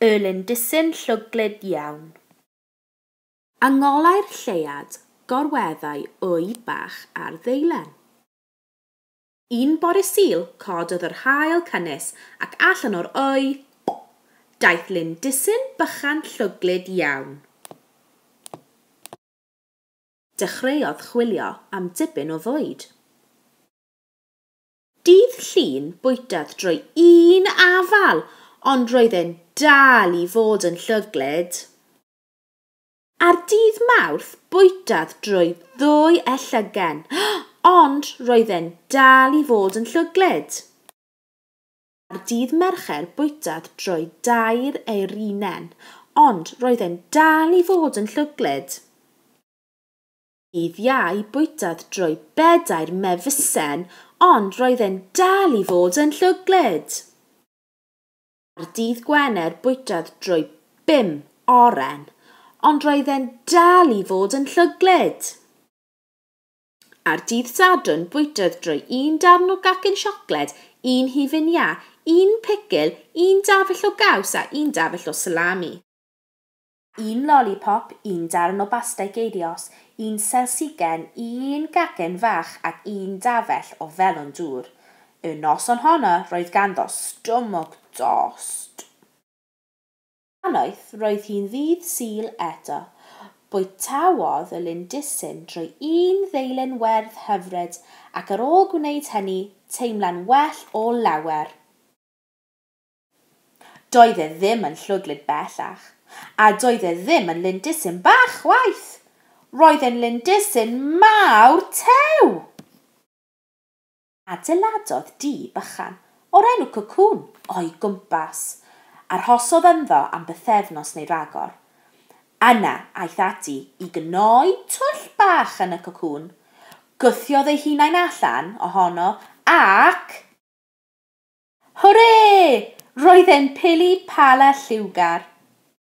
Y lindysyn llwglyd iawn. A ngolau'r lleuad gorweddai wy bach ar ddeilen. Un bore Sul, cododd yr haul cynnes ac allan o'r wy, daeth lindysyn bychan llwglyd iawn. Dechreuodd chwilio am dipyn o fwyd. Dydd Llun bwytaf drwy un afal ond roedd e'n dal i fod yn llwglyd. Ar dydd Mawrth bwytaf drwy ddwy e llygen ond roedd e'n dal i fod yn llwglyd. Ar dydd Mercher bwytaf drwy dair eirinen ond roedd e'n dal i fod yn llwglyd. Dydd Iau bwytâd drwy bedair mefusen ond roedd e'n dal i fod yn llwglyd. Ar Dydd Gwener bwytâd drwy bum oren ond roedd e'n dal i fod yn llwglyd. Ar Dydd Sadwrn bwytâd drwy un darn o gacen siocled, un hufen iâ, un picil, un dafell o gaws a un dafell o salami. un lolipop, un darn o bastei geirios, un selsigen, un gacen fach ac un dafell o felwn dŵr. Y noson honno roedd ganddo stumog dost. A noeth roedd hi'n ddydd Sul eto. Bwytaodd y lindysyn drwy un ddeilen werdd hyfryd ac ar ôl gwneud hynny teimlai'n well o lawer. Doedd e ddim yn llwglyd bellach, a doedd e ddim yn lindysyn bach chwaith! Roedd e'n lindysyn mawr tew! Adeiladodd dŷ bychan, o'r enw Cocŵn, o'i gwmpas. Arhosodd ynddo am bythefnos neu ragor. Yna, aeth ati i gnoi twll bach yn y cocŵn, gwthiodd ei hunain allan ohono, ac, Hwrê! Roedd e'n pili pala lliwgar.